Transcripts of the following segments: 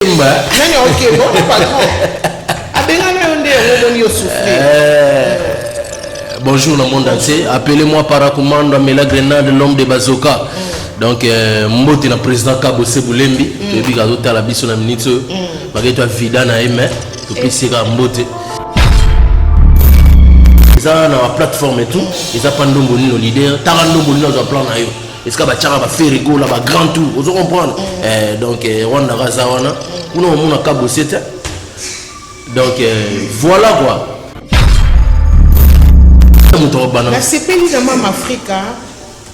Yemba. Nani ok bon patron. Abenga na yonde yango moni yo souffle. Eh, bonjour le monde entier. Appelez-moi Paracommando Amela Grenade l'homme de Bazoka. Mm. Donc euh, mbote na président Kabo Sebulembi, mm. toyebi kazo tala biso na minute oyo. Mm. Baketwa vida na ye mais topesi ye kaka mbote. eza na baplateforme et tout eza mpa ndombo nino leader tanga ndombo nino azwa plan na yo esika batiaka baferego na bagrand tour ozo comprendre mm. eh, donc eh, rwanda ka aza wana kuna omona kabose te donc eh, voilà quoi moto akobana nasepeli na mama afrika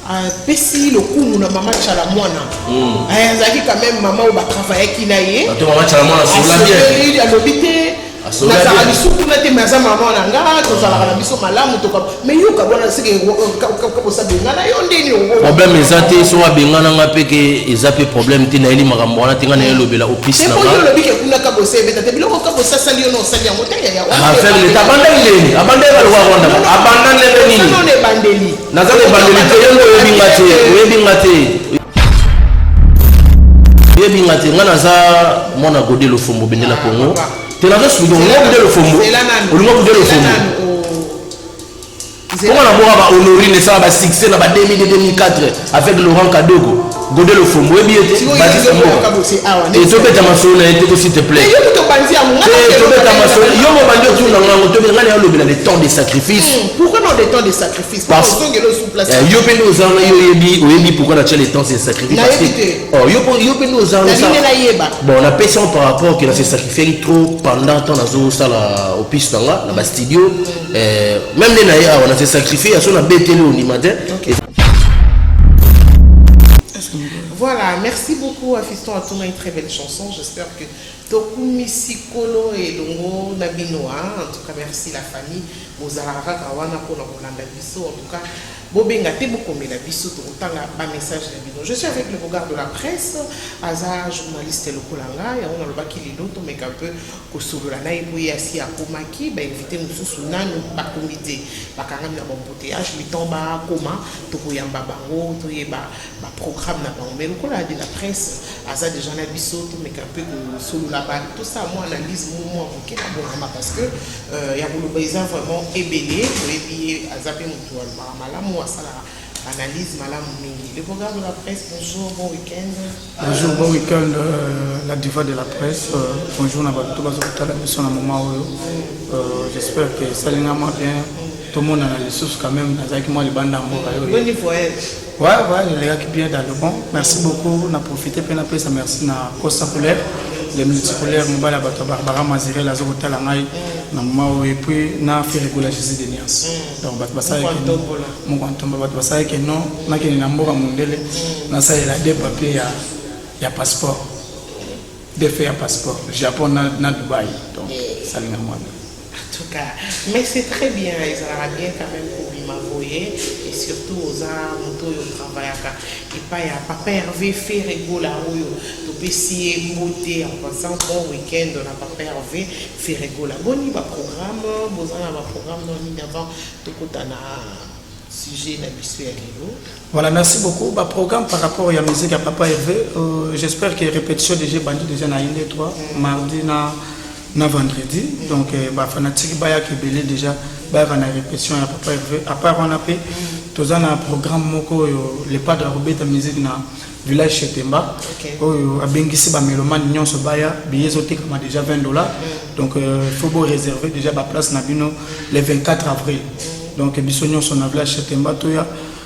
apesi lokumu na mama chala mwana mm. eh, azalaki quand même mama oyo batravayaki na ye alobi te nazalaka lisusu kuna te me aza mama na nga tozalaka na biso malamu toka me yo kabwana seke kosabenga na yo ndeni problème eza te soki abengana nga mpe ke eza mpe problème te nayeli makambo wana te nga naye elobela opisi naolobi ke kuna kabosa ebeta te biloko kabosa asali yo na osali yango te yaya abandaki ndeni abandaki baloko ya rwanda abanda ndenge nini ebandeli Naza na ebandeli te, yo nde oyebi nga te, oyebi nga te. Oyebi nga te, nga naza mwana Gode Lofombo bendela Congo. Te nazo suki donc nga Gode Lofombo, olinga Gode Lofombo. Comment na boka ba honorine esala ba succès na ba 2000 2004 avec Laurent Kadogo. Gode Lofombo oyebi ye te Batista Mboka et tobeta masolo na ye te ko s'il te plaît te tobeta masolo yo mobandi otuna nga yango tobe nga na olobela le temps de sacrifice yo mpe nde ozala na yo oyebi oyebi pourquoi na tia le temps de sacrifice parce que oh, yo mpe nde ozala bon napesi yango par rapport que na se sacrifiaki trop pendant temps nazosala opise na nga na bastudio eh, meme nde na ye awa na se sacrifie ya so na beteli ondima te Voilà, merci beaucoup à Fiston Atoma, une très belle chanson. J'espère que Tokumi Sikolo et Longo Nabinoa, hein. en tout cas merci la famille, Mozara Kawana pour la Rolanda Bisso, en tout cas, Bobenga Tebokome la Bisso, Tokotanga, bas message la Bino. Je suis avec le regard de la presse, Aza, journaliste Lokolanga, et on a le baki Lilo, Tomeka un peu, Kosolola na ye mpo ye asi akomaki, ba invites mosusu nanu bakomi te, bakangami na ba embouteillages, le temps bakoma tokoyamba bango toyeba ba programmes na bango mais lokola de la presse aza dejà na biso tomeka mpe kosolola ba tosala mua analyse moko mua moke na Bonama parce que ya koloba eza vraiment ebele, boyebi ye aza mpe moto alobaka malamu asalaka Analyse malamu mingi. Le programme de la presse, bonjour, bon week-end. Bonjour, bon week-end, euh, la diva de la presse. Euh, bonjour, na bato bazo kotala biso na moment oyo. Euh, J'espère que esalingama bien. tomonana lisusu quand même nazalaki mwa libanda ya mboka yo ouais ouais elekaki bien dans le bon merci beaucoup na profite mpe napesa merci na costa couleur le multicolaire mobali ya bato ya barbara mazirel aza kotala ngai na moma oyo epuis na ferregola jésus de niance donc bato basalaki moko ntomba bato basalaki no nakende na mboka mondele nasalela de papier ya, ya passeport defe ya passeport japon na, na dubai donc salinga mwana en tout cas mais c'est très bien ezalaka bien quand même kobima boye et surtout oza moto oyo travaillaka epai ya papa herve ferre gola oyo topesi ye mbote en passant bon week-end na papa herve Ferre Gola boni ba programme boza na ba programme no nini avant tokota na sujet na biso ya lelo voilà merci beaucoup ba programme par rapport ya musique ya papa Hervé euh, j'espère que répétition déjà bandi déjà na inde 3 mm. mardi na na vendredi mm. donc euh, ba fanatique baya ke belé déjà bayaka na répétition ya papa Hervé à part on a pe mm. toza na programme moko yo le padre robeta musique na village chez Temba okay. oyo abengisi ba melomane nyonso baya billet ezotekama déjà 20 dollars mm. donc euh, faut bo réserver déjà ba place na bino le 24 avril mm. donc biso nyonso na village chez Temba toya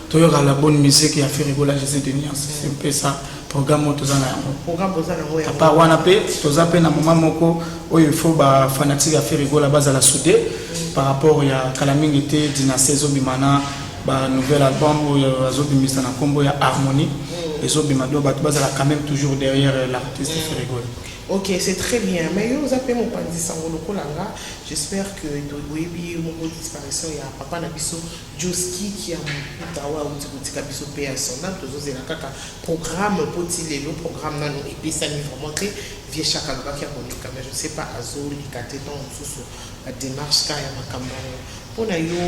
toyoka la bonne musique ya Ferregola José Denias c'est un peu ça programme oyo toza na yango apart wana mpe toza mpe na moment moko oyo il faut ba fanatique ya Ferregola bazala soude mm. par rapport ya kala mingi te dynastie ezobima na ba nouvel album oyo azobimisa na nkombo ya harmonie ezobima do bato bazala quand même toujours derrière euh, l'artiste mm. ferigol ok c'est très bien mais yo oza mpe mopanzi sango lokola nga j'espère que oyebi moko disparition ya papa na biso joski kia mokuta oyo auti kotika biso mpe ya sonda tozozela kaka programme mpo ti lelo programme nano epesami vraiment te vie chaka alobaki ya koleka mais je sais pas azoleka te ntango mosusu bademarche ka ya makambo yango Pona yo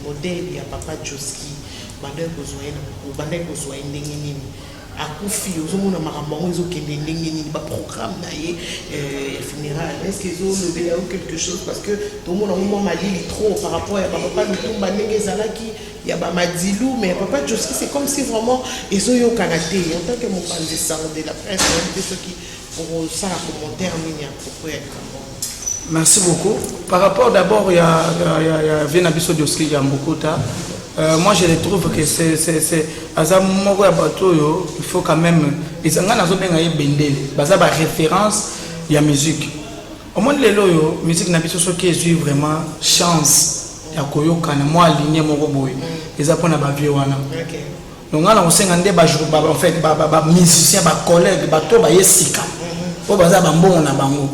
modèle ya papa Josky obandaki kozua ye na obandaki kozua ye ndenge nini? Akufi ozo mona makambo yango ezo kende ndenge nini? Ba programme na ye ya funeral est ce que ezo lobela yo quelque chose parce que to mona ngo mua malili trop par rapport ya ba papa Lutumba ndenge ezalaki ya ba Madilu mais ya papa Josky c'est comme si vraiment ezo yokana te en tant que mopanzi sango de la presse nayebi te soki Okosala commentaire nini à propos ya likambo yango? Merci beaucoup. Par rapport d'abord ya, ya, ya, ya vie na biso Dioski ya Mbukuta, euh, moi je le trouve que c'est c'est c'est aza moko ya bato oyo il faut quand même eza ngai nazobenga ye bendele baza ba référence ya musique omoni lelo oyo musique na biso soki ezwi vraiment chance ya koyokana mwa ligne moko boye eza mpo na bavieux wana Okay. Donc nga na kosenga nde ba jour ba en fait ba ba, ba musiciens ba collègues ba to ba yesika. Po baza ba mbongo na bango.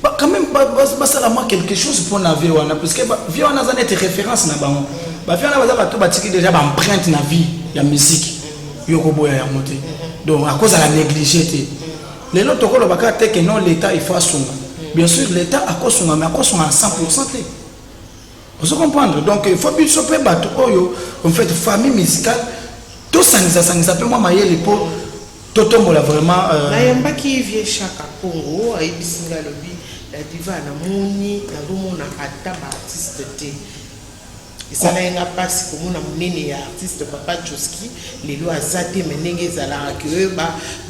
Ba quand même ba ba, ba sala moi quelque chose pour na vie wana parce que ba vie wana za nete référence na bango. Ba vie wana baza ba to ba tiki déjà ba empreinte na vie ya musique. Yo ko boya ya mote. Donc à cause à la négliger te. Lelo tokolo baka te que non l'état il faut asunga. Bien sûr l'état akosunga mais akosunga à 100% te. Ozo comprendre donc il faut biso pe bato oyo en fait famille musicale to sangisa sangisa pe mwa mayele po to tombola vraiment euh... na yambaki vieux Chaka Kongo ayebisi nga lobi la diva na moni na gomona ata ba artiste te esalaki nga mpasi komona monene ya artiste papa joski lelo aza te me ndenge ezalaka ke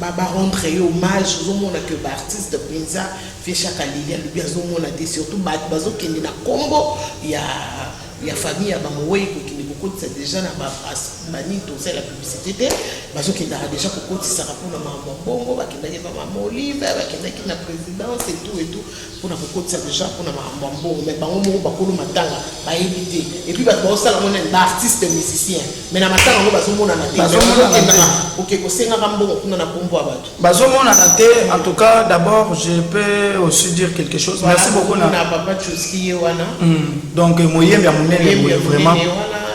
barendre ye hommage ozomona ke baartiste mpenza Vieux shaka lili alobi azomona te surtout batu bazokende na kombo ya ya famille ya bamoweyi kokende kokotisa deja na banini tosala publicité te bazokendaka deja kokotisaka mpona makambo ya mbongo bakendaki na mama olive bakendaki na présidence etout etout mpona kokotisa deja mpona makambo ya mbongo mai bango moko bakolo matanga bayebi te epuis bato baosala yango nani baartiste musicien mai na matanga yango bazomonana te okokosengaka mbongo kuna na kombo ya bato Bazo monana te en tout cas d'abord je peux aussi dire quelque chose voilà, merci beaucoup na papa Tchoski ye wana mm. donc moyembi ya monene boye vraiment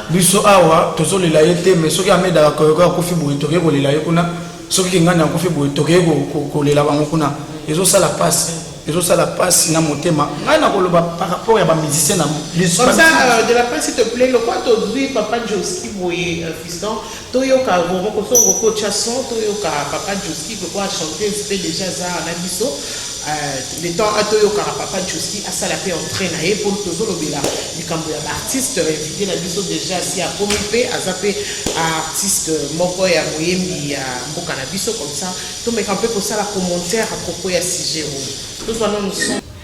biso awa tozolela ye te mais soki amedaka koyoko akufi boye tokoki kolela ye kuna soki kingani akufi boye tokoki kolela bango kuna ezosala mpasi ezosala mpasi na motema ngai nakoloba par rapport ya bamusicien na euh, de la presse te plaît lokwa tozwi papa joski boye euh, fiston Toyoka Roro kosongo ko tia son toyoka papa Josky po a chanteuse pe dejà aza awa na biso euh le temps a toyokaka papa Josky asala pe entree na ye po tozo lobela likambo ya ba artistes invite na biso dejà asi akomi pe aza pe artiste moko ya moyembi ya mboka na biso comme ça tomeka pe kosala commentaire à propos ya sujet oyo tozua nanu son.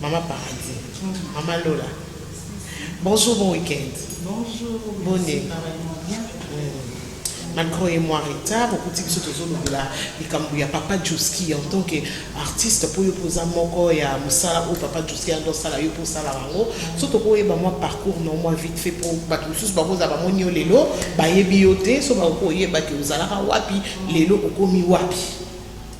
Maman paradis maman lola bonjour bon week-end bonjour bone malgré oye mwa retard okuti biso tozolobela likambo ya papa juski en tant que artiste mpo yo mpoza moko ya mosala oyo papa juski ando osala yo mpo osala bango so tokoyeba mwa parcours na mwa vite fait mpo bato mosusu bakozala bamoni yo lelo bayebi yo te so bakoki koyeba te ozalaka wapi lelo okomi wapi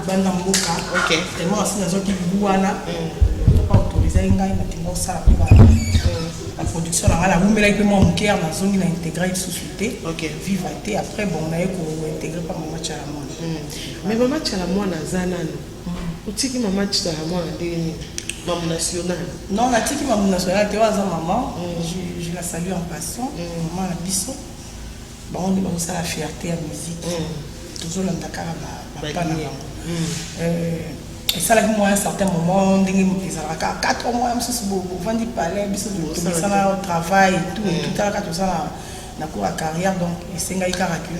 libanda mboka okay. tellement asi nazwaki libu wana mm. pa autorisaki ngai nakende osala mpe ba mm. production na ngai nawumelaki mpe mwa moke ya nazongi na integre lisusu te okay. viva te après bon naye kointegre mpa mama cala mwana mm. mais mama cala mwana aza nano mm. otiki mama cala mwana ndenge nini mamu national non natiki mamu national te oyo aza mama mm. je la salue en passant mm. mama na biso Bango nde bazo sala fierte ya musique tozo landa kaka ba pas na bango esalaki mua un certain moment ndenge ezalaka kaka quatre mois mosusu bovandi palais biso tobisana travail et tout et tout tala kaka toza na cours ya carrière donc esengaki kaka que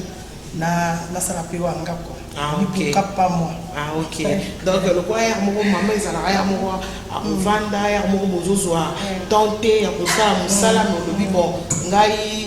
nasala pe wanga quoi Ah, okay. pas moi. Ah, ok. Donc, le quoi, hier, mon maman, ils allaient hier, mon à Vanda, hier, mon bozozoa, tenté, à Kosa, Moussala, mon lobby, bon, ngai,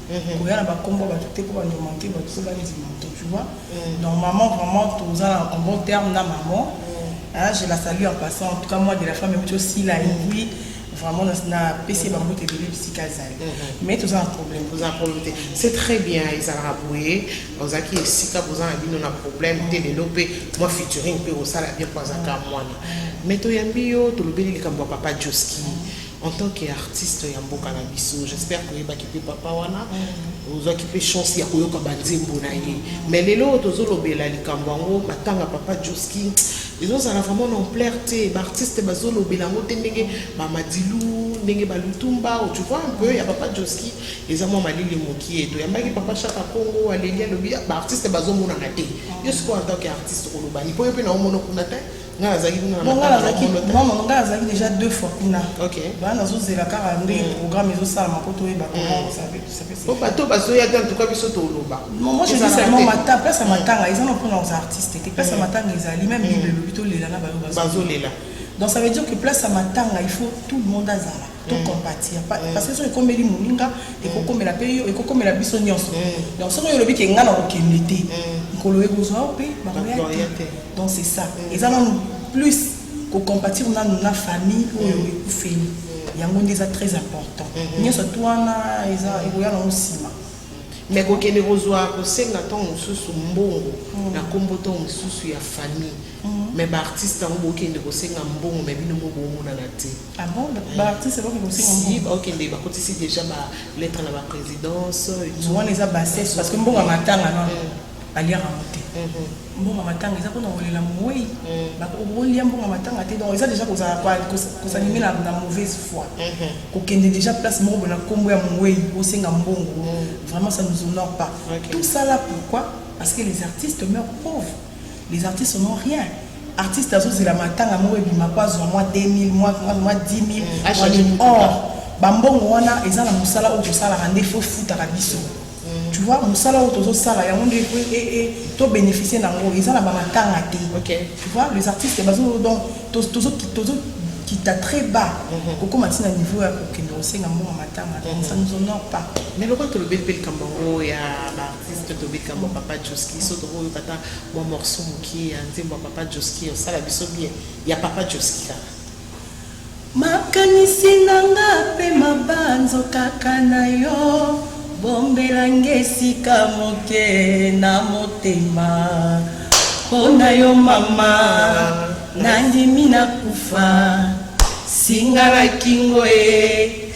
koya na ba kombo ya batu te po ba no manque batu pe ba ndima moto tu vois donc maman vraiment toza na en bon terme na maman hein je la salue en passant en tout cas moi de la femme meme cho sila ingui vraiment na na pesi ba mbote ebele bisika azali mais toza na problème toza na problème te c'est très bien ezalaka boye ozalaki esika boza na bino na problème te lelo pe moi featuring pe osala bien po azaka mwana mais toyambi yo tolobeli likambo ya papa joski En tant que artiste ya mboka na biso, j'espère que oyebaki pe papa wana, ozwaki pe chance ya koyoka ba nzembo na ye. Mais lelo oyo tozolobela likambo yango, matanga papa Josky, ezozala vraiment na ampleur te, ba artistes bazolobela yango te ndenge ba Madilu, ndenge ba Lutumba, tu vois un peu, ya papa Josky eza mwa malili mokie. Toyambaki papa Shaka Kongo, aleli alobi, ah, ba artistes bazomonana te. Yo sikoyo en tant que artiste okoloba nini? Po yo pe na omona kuna te. Nga nazalaki kuna na nga nazalaki non non nga nazalaki déjà deux fois kuna ok ba nazo zela kaka nde mm. programme ezo sala ma poto yeba ko mm. ça fait ça fait po bato bazo ya en tout cas biso to loba non moi je dis seulement mata place mm. matanga ils ont pris leurs artistes et place matanga ils allaient même ils le lobito lela na bazo lela donc ça veut dire que place matanga il faut tout le monde azala to mm. compatir mm. parce que soki ekomeli moninga mm. ekokomela mpe yo ekokomela biso nyonso donc soki oyo olobi ke ngai nakokende te nkolo ekozwa yo mpe bakoya te donc c'est ça eza nanu plus kocompatir nanu na famille oyo ekufeli yango nde eza très important mm-hmm. nyonso tu wana eza ekoya nango nsima me kokende kozwa kosenga ntango mosusu mbongo mm. na nkombo ntango mosusu ya famille mm. me baartiste yango bokende kosenga mbongo me bino mo bomonana te Ah bon, ba artistes ba kimosi mo. Si ba okende ba kotisi déjà ba lettres na ba présidence. Mwana eza bassesse parce que mbongo matanga non. Mm. Aliaka ngo te. Mm-hmm. Mbongo matanga eza pona kolela mowei. Mm. Ba kolia mbongo matanga te donc eza déjà kozala kwa kosanime na na mauvaise foi. Mm-hmm. Kokende déjà place moko bona kombo ya mowei osenga mbongo. Mm. Vraiment ça nous honore pas. Tout ça là pourquoi? Parce que les artistes meurent pauvres. Les artistes n'ont rien. Artiste azozela matanga moko ebima po azwa mwa 2000 mwa mwa 10000 Mm, a changer mwa or bambongo wana eza na mosala oyo tosalaka nde fo efutaka biso tu vois mosala oyo tozosala yango nde po e- e- to bénéficier na yango eza na bamatanga te Ok. tu vois les artistes bazo donc tozo- tozo tozo kita très bas kokoma ntina niveau ya kokende kosenga mbongo matanga ça nous honore pas Mais lokola tolobeli mpe likambo yango ya ba- artiste tobika mwa papa joski so tokoki oyoka ata mwa morceau mokie ya nzembo ya papa joski osala biso bien ya papa joski kaka makanisi na nga mpe mabanzo kaka na yo bombela nge esika moke na motema mpo na yo mama nandimi na kufa singa na kingo ye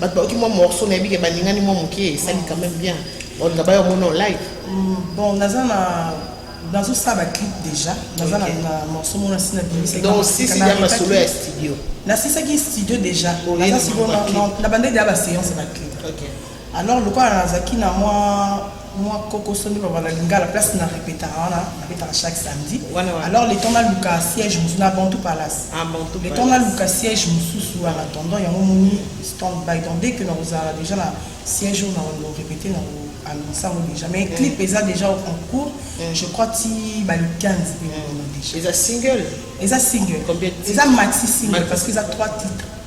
Bato bayoki mwa morceau nayebi ke baningani mwa moke esali quand même bien balinga bayo mona o live mm, bon naza na nazosala baclip déjà naza na morceau mona si nabimisakidoncsisiya masolo ya studio nasisaki studio déjà naza sikoyo na bandeki ya baseance ya baclip alors lokola nazalaki na mwa Mwa kokoso nde baloba na lingala place na repetaka wana na betaka chaque samedi Wana wana. alors le temps naluka siège mosusu na bantu palace Ah, Bantu le temps Palace. naluka siège mosusu en attendant yango omoni stand by donc dès que nakozala déjà na siège oyo nakorepete na annonce yango déjà mais clip eza déjà en cours je crois ti bale 15 boye nakomi déjà eza single eza single Combien de titres? eza maxi single Maxi. parce que eza 3 titres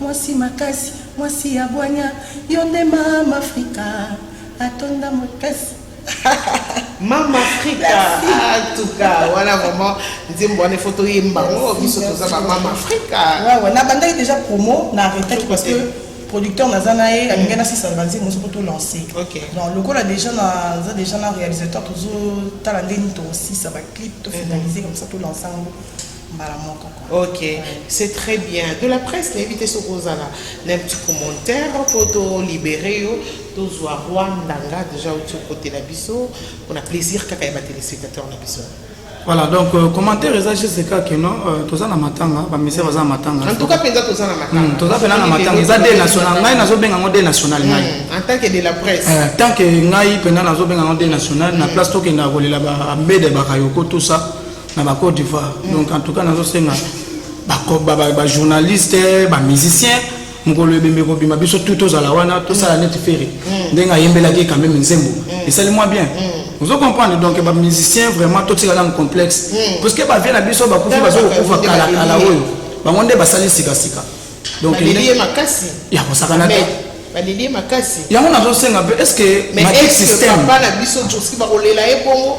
Mwasi makasi, mwasi ya bwanya, yo nde mama Afrika atonda mokasi. mama afrika atuka wana vraiment nzembo wana ifo toyemba ngo biso toza bamama afrika wawa nabandaki déjà promo na arretaki parce que producteur naza na ye alingai nasisa banzembo nyonso mpo tolance donc lokola déjà naza déjà na réalisateur tozotala nde nini tokosisa baclip tofinalise comme ça tolance yango mbala moko quoi. Ok, c'est très bien. De la presse, nayebi te soki ozala na petit commentaire mpo tolibere yo tozwa Rwanda nga deja outi okotela biso mpona plaisir kaka ya batelespectateur na biso. Voilà, donc euh, commentaire eza juste kaka que non euh, toza na matanga bamisia baza na matanga En tout cas, mpenza toza na matanga. Hmm, toza mpena na matanga eza de national ngai nazobenga yango de national ngai Hmm, En tant que de la presse. Euh, tant que ngai mpena nazobenga yango de national na place tokendaka kolela ba mbede bakayoko tout ça na ba Côte d'Ivoire mm. donc en tout cas nazo senga ba ba ba, ba journalistes ba musiciens mokolo ebembe kobima biso tout tozala wana tosala mm. neti fere mm. ndenge ayembelaki quand même nzembo mm. esali mwa bien mm. ozo comprendre donc ba musiciens vraiment totika na complexe mm. parce que ba vie na biso ba kufi bazo kokufa kala kala oyo bango nde basali sika sika donc il makasi ya kosakana te baleli ye makasi yango nazosenga mpe estce matrik système papa na biso joski bakolela ye bongo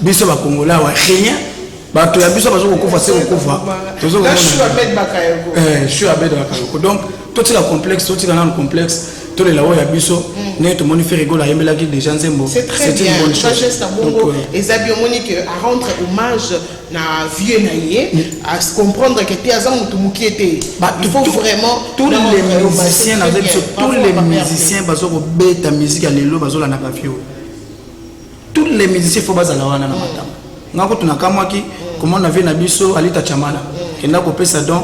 biso ba congolais wa rien bato ya biso bazo kokufa se kokufa tozo komona shu abed bakayoko eh shu abed bakayoko donc totika complexe totika nanu complexe tolela oyo ya biso mm. ndenge tomoni ferigol ayembelaki déjà nzembo c'est une bonne chose euh, eza bi omoni que à rendre hommage na vieux na ye mm. à se comprendre que te aza motu mokie te il faut vraiment tous les musiciens naza biso tous les musiciens bazokobeta musique ya lelo bazolandaka vieux tous les musiciens faut bazala wana na matanga nga kutu nakamwaki komona vie na biso alita chamala kenda kopesa don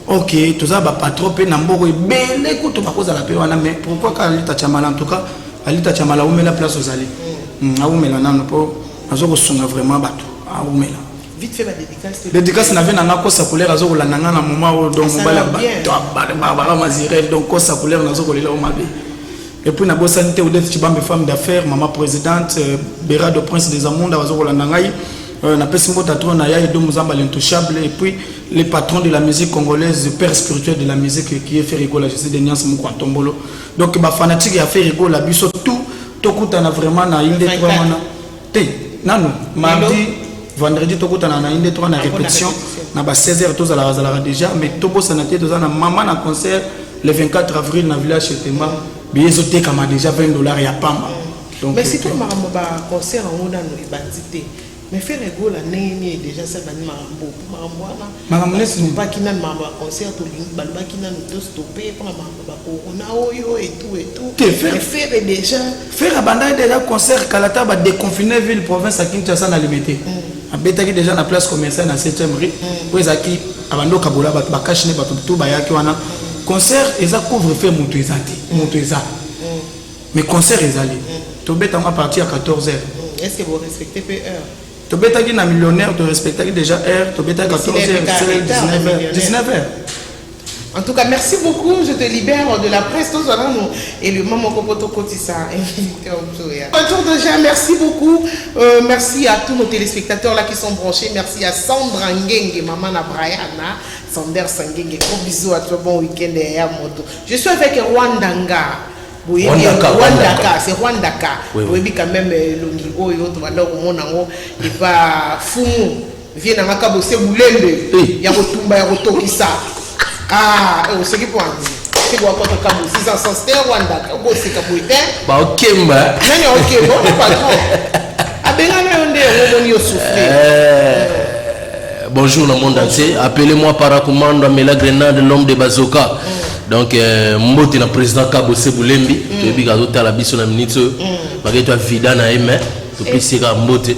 ok toza bapatron mpe na mboko ebele kutu bakozala mpe wana mais pourquoi ka alita chamala en tout cas alita chamala awumela place ozali hmm, awumela nano mpo nazo kosunga vraiment bato awumela dédicace na vie na nga kosa couleur azo kolanda nga na moment oyo donc mobali ya bato ya barbara mazirel donc kosa couleur nazo kolela o mabe Et puis nabosani te Odette Tshibambe femme d'affaires, maman presidente, euh, Berado Prince des Amunda bazo kolanda ngai. Euh, napesi mbote atro na ya edo muzamba l'intouchable et puis le patron de la musique congolaise le père spirituel de la musique qui est ferigola je suis de niance moko antombolo donc bafanatique ya ferigola biso tout tokutana vraiment na inde wana te nanu mardi vendredi tokutana na inde toka na répétition na ba 16 heures tozalaka zalaka déjà mais tobosana te toza na mama na concert le 24 avril na village chez Pemba biye ezotekama déjà 20 dollars ya pamba donc mais surtout makambo ba concert yango nanu ebandi te mais fere gola ndenge nini déjà asabani makambo makambo wana makambo nesi topaki nanu makambo ya concert tolingi balobaki nanu tostope mpona makambo Ba corona oyo et tout et tout. Te ferre. Mais ferre dejà. Ferre abandaki dejà concert kala ta ba déconfiner ville province à Kinshasa na limite. Mm. Abetaki dejà na place commerciale na 7e rue. Mm. Oyo ezaki abando kabola bato ba cash ne bato tout bayaki wana. Mm. Concert eza couvre feu moto eza te. Mm. Moto eza. Mm. Mais concert ezali. Mm. Tobeta ngo à partir ya 14h. Mm. Est-ce que vous respectez peu heure? tobetaki na millionnaire torespectaki déjà heure tobetaki 14 heures 19 heures 19 heures En tout cas, merci beaucoup. Je te libère de la presse. Tous voilà nous. Et le maman Kopoto Kotissa, invité au tour. Bonjour déjà, merci beaucoup. Euh, merci à tous nos téléspectateurs là qui sont branchés. Merci à Sandra Ngenge, maman à Brianna. Sander Sangenge, gros bisous à toi. Bon week-end et à moto. Je suis avec Rwandanga. boyebi Rwandaka, rwandaka Rwandaka. c'est rwandaka Oui, oui. boyebi quand même elongi oyo tobanda komona yango epa fumu Vie na nga kabo se bulembe Eh. ya kotumba ya kotokisa. Ah, eh, oseki po anzi. Seko wakota kabo 600 sans te Rwanda okoseka boye te. baokemba Nani aoke bo na patron. Abengana yo nde yango omoni yo souffrir. Euh, bonjour le monde entier appelez-moi paracommando amela grenade l'homme de bazoka donc euh, mbote na président kabo sebulembi toyebi kazotala biso na minute oyo bakei to avida na ye mai topesi ye kaka mbote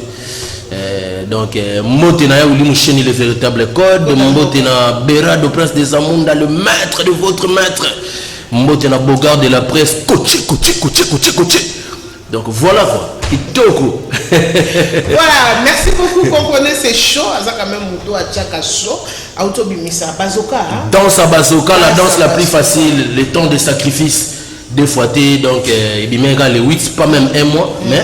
Euh, donc euh, mbote na ya wili musheni le véritable code mbote na berado prince des amunda le maître de votre maître mbote na bogard de la presse koche koche koche koche koche donc voilà quoi kitoko voilà merci beaucoup comprenez c'est chaud aza quand même moto atiaka chaud auto bimisa bazoka hein? danse à bazoka la danse la plus facile le temps de sacrifice deux fois te donc euh, ebimeka le 8 pas même un mois mais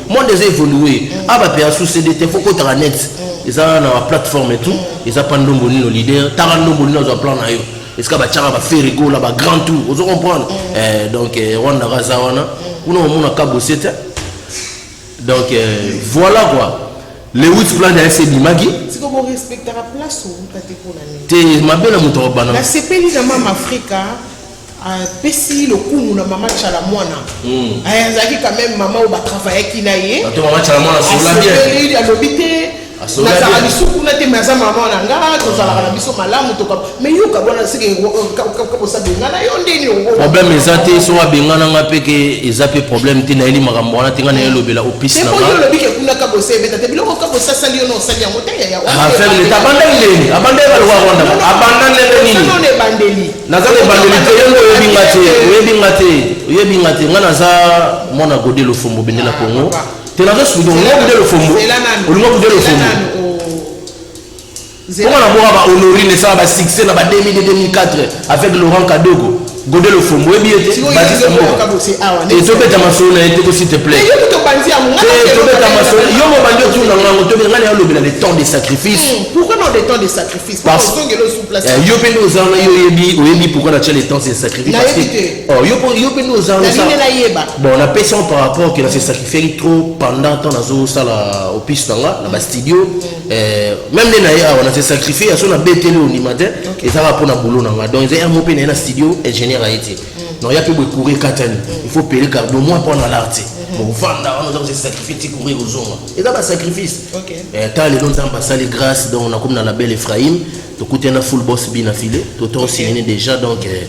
monde eza evolue a ba pe asu cd te faut kotaka net eza na ba plateforme tout eza pa ndombo nino leader tala ndombo nino azwa plan na yo esika batiaka baferigola ba grand tour ozo comprendre eh, donc eh, rwanda kaza wana kuna omona kabose te donc eh, voilà quoi le wit plan ya ese ebimaki te mabe na moto akobana nasepeli na mama afrika apesi lokumu na mama tshala mwana hmm. eh, azalaki quand même mama oyo batravayaki na ye asoleli alobi te nazala biso kuna te me aza mama na nga tozalaka na biso malamu toka me yoka bona seke kabosa bengana yo ndeni problème eza te soki abengana nga mpe ke eza mpe problème te nayeli makambo wana te nga naye elobela opisi olobi ke kuna kabosa ebeta te biloko kabosa asali yo na osali yango te yaya abandaki ndeni abandaki baloko ya rwanda abanda ndenge nini ebandeli Naza na ebandeli te, yo nde oyebi nga te, oyebi nga te, oyebi nga te, nga naza mwana Gode Lofombo bende la Congo, te nazo sudo, nga Gode Lofombo, olinga Gode Lofombo, Comment la boire ba honorine ça ba succès na ba 2000 2004 avec Laurent Kadogo Gode Lofombo ebi ete Baptiste Mboka et to beta masolo na ete ko s'il te plaît yo to banzi ya mwana to beta masolo yo mo bandi otuna ngango to beta ngani ya lobela le temps de sacrifice hmm, pourquoi non le temps de sacrifice Eh, yo mpe nde oza wana yo oyebi oyebi pourquoi na tia le temps se sacrifie parce que oh, yo mpe nde oza wana bon napesi yango par rapport que na se sacrifiaki trop pendant temps nazosala opise na nga na bastudio mm. eh, même nde na ye awa na se sacrifie ya so na beteli ondima te ezalaka mpo na boulot na nga donc eza yango mpe na ye na studio ingénieur aye te mm. non ya mpe boye courir katani mm. il faut pele cardo moi mpo na lar te bovanda wana oza kosesacrifie ti courir ozonga eza ba sacrifice okay. eh, ta lelo nzambe asali grâce donc nakomi na label ephraim tokutani na full boss bina file toton okay. signe déjà donc eh,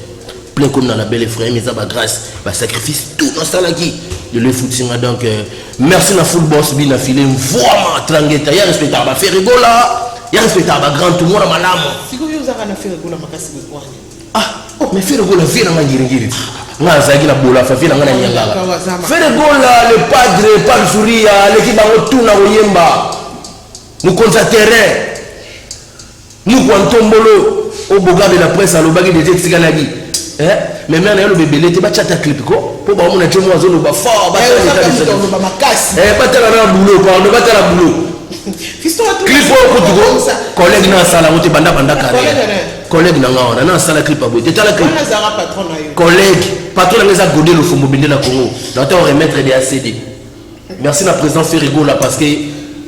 plein comme na label ephraim eza ba grâce ba sacrifice tout nasalaki lelo efutinga donc eh, merci na full boss bina file mvuama trangeta ya respectaka ba ferregola ya respectaka ba grand tomona malamu sikoyo ozaka na ferregola makasi mikwani Ah, oh, mais Ferre Gola, vie na nga ngiri-ngiri. Nga azalaki na bola, fa vie na nga na nyangaka. Ferre Gola, le padre, padre Zuria, aleki bango tout na koyemba. Mokonzi ya terrain. Mukwa Ntombolo, o Bogabe la presse alobaki deje etikalaki. Eh? Mais mère na yo lobe belete ba chata clip ko po ba mona chemo azo loba fort ba tala eh, ça loba makasi. Eh ba tala na boulot pardon ba tala boulot. Fisto tu clip ko tu ko collègue na sala wote banda banda carrière. Collègue na nga wana na asala clip aboye te tala clip. Wana zara patron na yo. Collègue patron na nga eza Gode Lofombo bende na Congo. Na to remettre des ACD. Merci na président Ferrigola parce que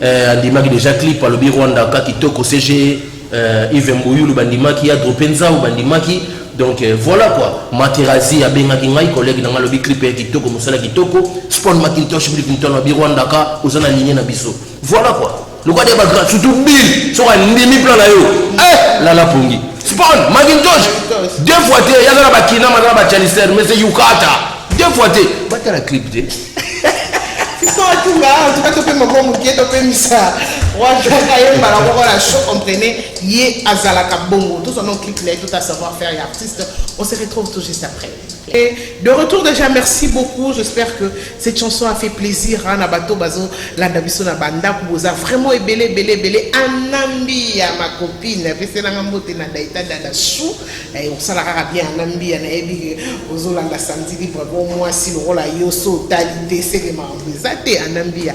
euh, andimaki déjà clip alobi Rwanda ka kitoko CG euh, Yves Mboyulu bandimaki ya Drope Nzau bandimaki donc euh, voilà quoi Materazzi abengaki ngai collègue na nga alobi clip ya kitoko mosala kitoko Spawn Macintosh Bill Clinton alobi Rwanda ka oza na ligne na biso voilà quoi Lokola dia ba grand surtout Bill soki andimi plan na yo. Eh lala pongi. Spawn Macintosh deux fois te yaza na ba kinama na ba Chalister mais c'est Yukata. Deux fois te bata la clip te. totunga awa tuka topema mwa moke topemisa wajaka ye mbala moko na show comprene ye azalaka bongo tozwa no clip na ye tota savoir faire ya artiste on se retrouve tout juste après Et de retour dejà merci beaucoup j'espère que cette chanson a fait plaisir hein, na bato bazo landa biso na bandako boza vraiment ebele ebele ebele anambiya ma copine apeselanga mbote na daita dada chou eh, osala kaka bien anambiya nayebi ozolanda samedi libre bo mwasi lokola yo so otali te seke makambo eza te anambiya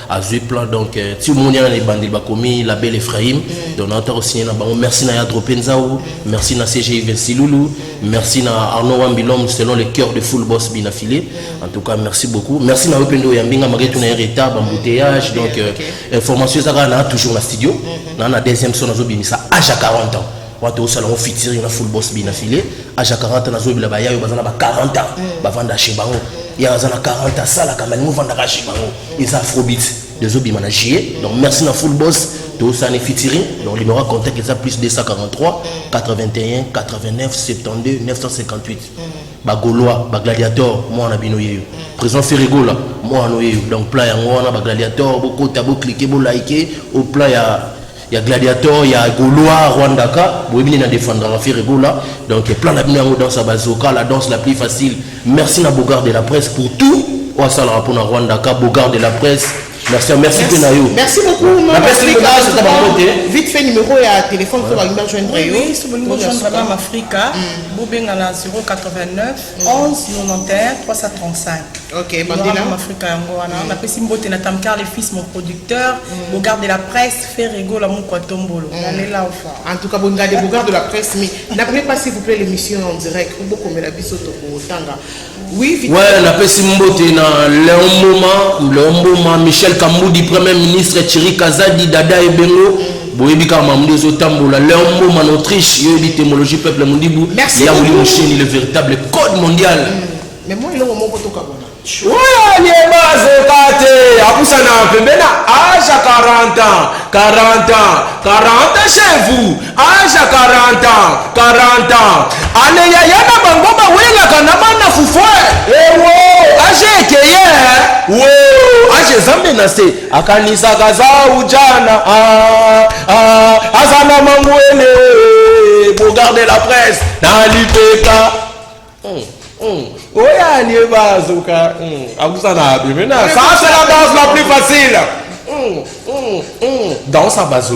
azui plan donc euh, ti omoni wana na ebandeli bakomi label ephraim mm. donc naota kosigne na bango merci na yadro penzau merci na cgi vinsilulu merci na arnaud wambilom selon le cœur de full boss bina filé en tout cas merci beaucoup merci na yo mpe nde oyambi nga malgré tuna ye retard bambouteillage donc euh, information eza kaka na toujours na studio mm, mm, na na deuxième so nazobimisa age ya 40 ans Watu osala ngo featuring na full boss bina filet age ya 40 na zobela ba yayo baza na ba 40 ans mm. bavanda chez bango ya aza na 40 ans sala kama ningo vandaka chez bango eza afrobeat dezo bima na juillet donc merci na full boss tosani featuring donc numéro ya contact eza plus 243 81 89 72 958 bagolois bagladiator mwana bino yeyo mm. président ferregola mwana oyeyo donc plan yango wana bagladiator bokota boklike bolike au plan ya ya gladiator ya golois rwandaka boyebi nde na defendraka fere gola donc plan na bino yango danse ya bazoka la danse la plus facile merci na bogard de la presse pour tout oyo asalaka mpo na rwandaka bogard de la presse merci merci mpe na yo merci beaucoup vite fait numéro ya téléphone mpo balingi bajoindre yo bobenga na 089 11 91 335. Ok, Mandela. Mon Africa yango wana. Mm. Napesi mbote na Tamkar le fils mon producteur, mm. Bogard de la presse, Ferrego la mukwa tombolo. Mm. Nalela ofa. En tout cas, Bogard de Bogard de la presse mais n'appelez pas s'il vous plaît l'émission en direct. Obo komela biso to tanga. Oui, vite. Ouais, napesi mbote na Léon Moma, Léon Moma, Michel Kamoudi, premier ministre Thierry Kazadi, Dada Ebengo. Mm. Boyebi kaka mamundi ezo tambola leur mboma na Autriche yo yebi temologie peuple mundibu ya wuli musheni le véritable code mondial. Mm. Mais moi eloko moko to kabona. Oya lieba azoka te abusana pembeni na age ya 40 ans 40 ans 40 ans chez vous age ya 40 ans 40 ans aleya ya na bango bawelaka na mana fufue ewo age ekeye wo age ezambe na se akanisaka aza ujana ah, ah, aza na mangwele bogarde la presse na lipeka mm, mm. oyo alie bazoka mm, akusa na abi mena ça c'est la danse la plus facile mm, mm, mm. danse ya bazo